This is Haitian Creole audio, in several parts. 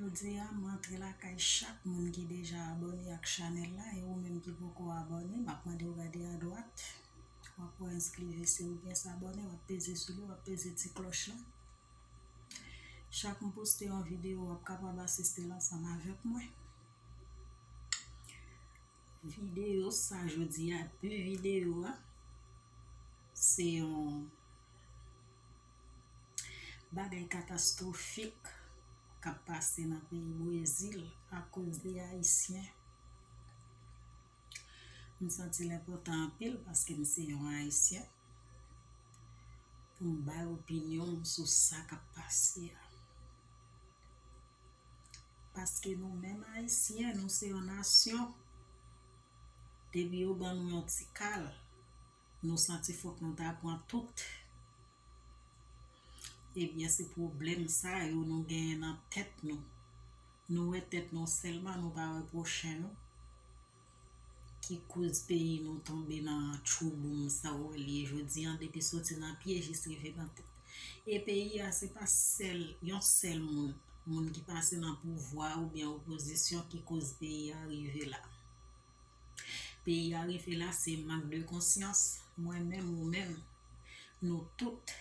Jodi a m antre lakay chak moun ki deja abòne ak chanèl la e ou menm ki poko abòne map mande w gade adwat wap wè enskri vese oubyen sabòne wap peze sou li wap peze ti klòch la chak m poste yon video wap kapab asiste l ansanm avèk mwen video sa jodi a pi video a se yon Bagay katastrofik kap pase nan peyi brezil akoz de ayisyen. M santi l enpòtan anpil paske m se yon ayisyen pou m bay opinyon m sou sa kap pase a. Paske nou menm ayisyen nou se yon nasyon depi yo ban nou yon ti kal Nou santi fok nou ta pran tout. Ebyen se pwoblèm sa yo nou genyen nan tèt nou. Nou wè tèt nou sèlman nou pa wè pwochen nou. Ki koz peyi nou tonbe nan tchouboum sa w wè l ye jodi an depi soti nan pye jis rive nan tèt. E peyi a se pa sèl yon sèl moun, moun ki pase nan pouvwa oubyen opozisyon ki koz peyi a rive la. Peyi a rive la se mank de konsyans, mwen menm ou menm, nou tout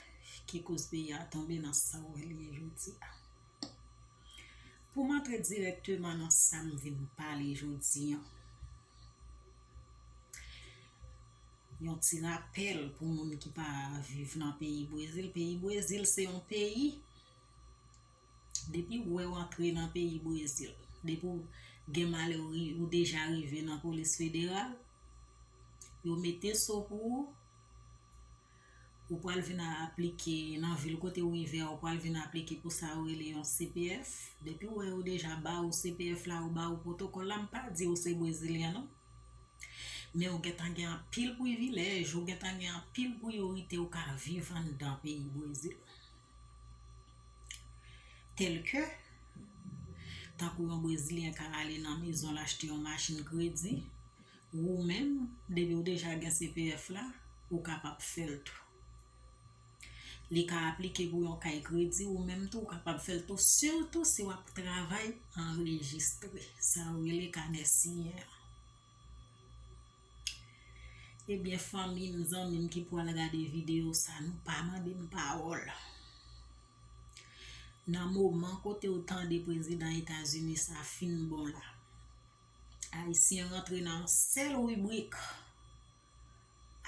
ki koz peyi a tonbe nan sa w wè l ye jodi a. Pou m antre dirèkteman nan sa m vin pale jodi an, yon ti rapèl pou moun ki pa viv nan peyi Brezil, peyi Brezil se yon peyi Depi ou wè w antre nan peyi Brezil, depi ou gen malè ou deja rive nan polis federal, yo mete so pou ou, ou pral vin a aplike nan vil kote ou rive a, ou pral vin aplike pou sa yo rele yon CPF, depi ou wè yo deja ba ou CPF la, yo ba ou pwotokòl la, m pa di ou se brezilyen non, men ou gen tan gen anpil privilèj, ou gen tan gen anpil priyorite ou ka viv anndan peyi Brezil. Tèlke, tankou yon brezilyen ka ale nan mezon l achte yon machin kredi, wou menm, depi w deja gen CPF la, ou kapab fè l tou. Li ka aplike pou yon kay kredi wou menm tou, ou kapab fè l tou, sitou si w ap travay anrejistre, sa yo rele kanè siyen an. Ebyen fanmim zanmim ki pwal gade video sa nou pa mandem pawòl nan moman kote ou tande prezidan etazini sa fin bon la ayisyen rantre nan yon sèl ribrik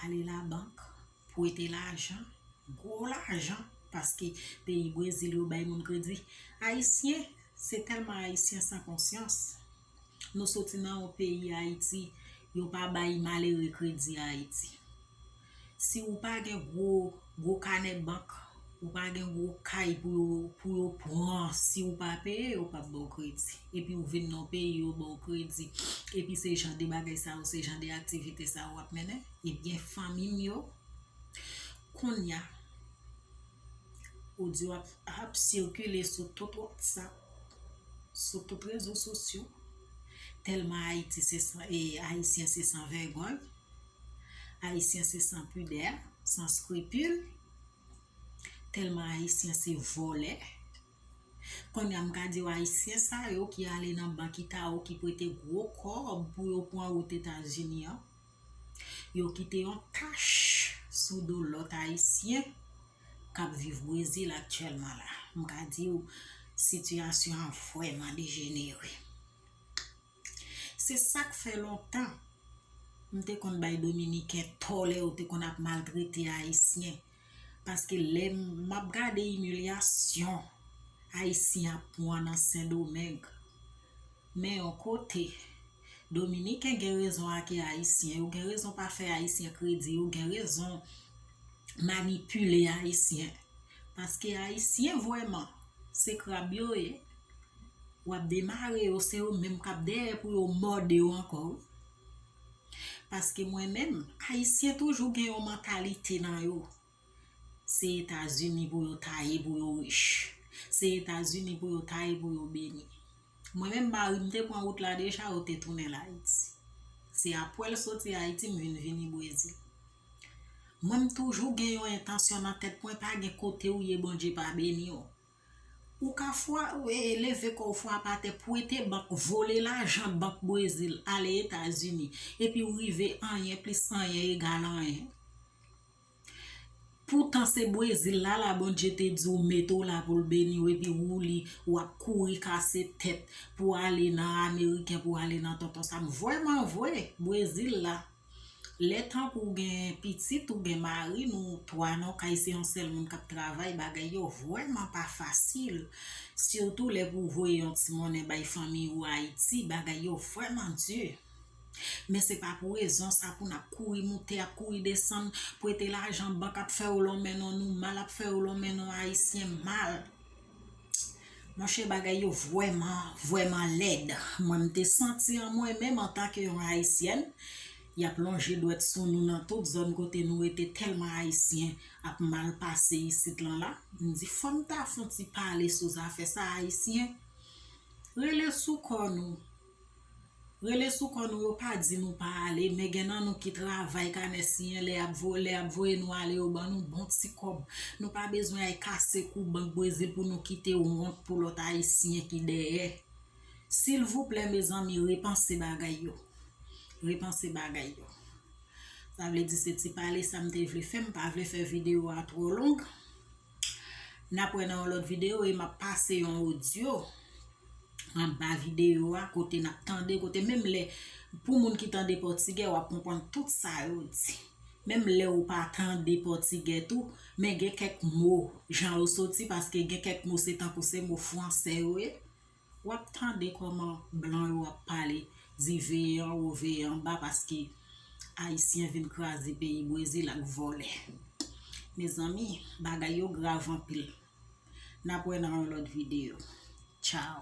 ale labank pwete lajan gwo lajan paske peyi brezil yo bay moun kredi ayisyen se tèlman ayisyen san konsyans Nou soti nan yon peyi Ayiti, yo pa bay malere kredi Ayiti. Si ou pa gen gwo gwo kanè bank, ou pa gen gwo kay pou yo pou yo pran si ou pa peye yo pap baw kredi. Epi ou vin nan yon peyi yo baw kredi. Epi se jan de bagay sa yo, se jan de aktivite sa yo wap mennen. Ebyen fanmi m yo, kounya. Odyo a ap sikile sou tout whatsapp, sou tout rezo sosyo, tèlman Ayiti se san e Ayisyen se san vègòy, Ayisyen se san pidè, san skripil, tèlman Ayisyen se vòlè. Konnya m ka diw ayisyen sa yo ki ale nan bank itaho ki prete gwo kòb pou yo pwan wout etazini an yo kite yon tach sou do lòt ayisyen kap viv brezil aktyèlman la m ka diw sitiyasyon an vrèman dejenere. Se sak fè lontan m te konn bay dominiken tò lè yo te konn ap maltrete ayisyen paske lè m ap gade imilyasyon ayisyen ap pwan nan sendomeng men yon kote dominiken gen rezon ake ayisyen yo gen rezon pa fè ayisyen kredi yo gen rezon manipile ayisyen paske ayisyen vweman se krab yo ye. wap demare yo se yo menm kap dèyè pou yo mòde yo ankò wi paske mwen menm ayisyen toujou gen yon mantalite nan yo se etazini pou yo ta ye pou yo rich se etazini pou yo ta ye pou yo beni mwen menm mari m te pran wout la deja yo te tounen l ayiti se apwè l soti ayiti m vin vini brezil mwen m toujou gen yon entansyon nan tèt mwen pa gen kote ou ye bondye pa beni w Ou ka fwa leve kò w fwape atè pwete bank vole lajan bank brezil ale etazini epi w rive anyen plis anyen egal anyen poutan se brezil la la bondye te di w mete w la pou l beni w epi ou li w ap kouri kase tèt pou ale nan ameriken pou ale nan tonton sam vrèman vre brezil la Lè tankou ou gen pitit ou gen mari nou 3 nan yon kay se yon sèl moun kap travay bagay yo vrèman pa fasil sitou lè pou voye yon ti monnen bay fanmiy ou ayiti bagay yo vrèman di men se pa pou rezon sa poun ap kouri moute ap kouri desann prete lajan bank ap fèw lonmen non nou mal ap fèw lonmen non ayisyen mal. Monchè bagay yo vwèman, vwèman lèd. Mwen m te santi an mwen menm antanke yon Ayisyèn, y ap lonje dwèt sou nou nan tout zòn kote nou rete tèlman Ayisyen ap mal pase isit lan la. M di fò m ta fon ti pale sou zafè sa Ayisyen, rele sou kò nou. Rele sou kò nou yo pa di nou pa ale men gen nan nou ki travay kanè siyen lè yap vo lè yap voye nou ale yo ban nou bon ti kòb nou pa bezwen ay kase kou bank brezil pou nou kite wont pou lòt ayisyen ki dèyè silvouplè mezanmi repanse bagay yo repanse bagay yo sa vle di se ti pale sa m te vle fè m pa vle fè video a twò long. Nap wè nan yon lòt video e map pase yon audio anba video a kote nap tande kote menm lè pou moun ki tande pòtigè wap konprann tout sa yo di. Menm lè ou pa tande pòtigè tou men gen kèk mo jan yo soti paske gen kèk mo se tankou se mo fransè yo ye. Wap tande koman blan yo ap pale di veye anwo veye anba paske ayisyen vin kraze peyi brezil ak vòlè mezanmi bagay yo grav anpil nap wè nan yon lòt video tchao.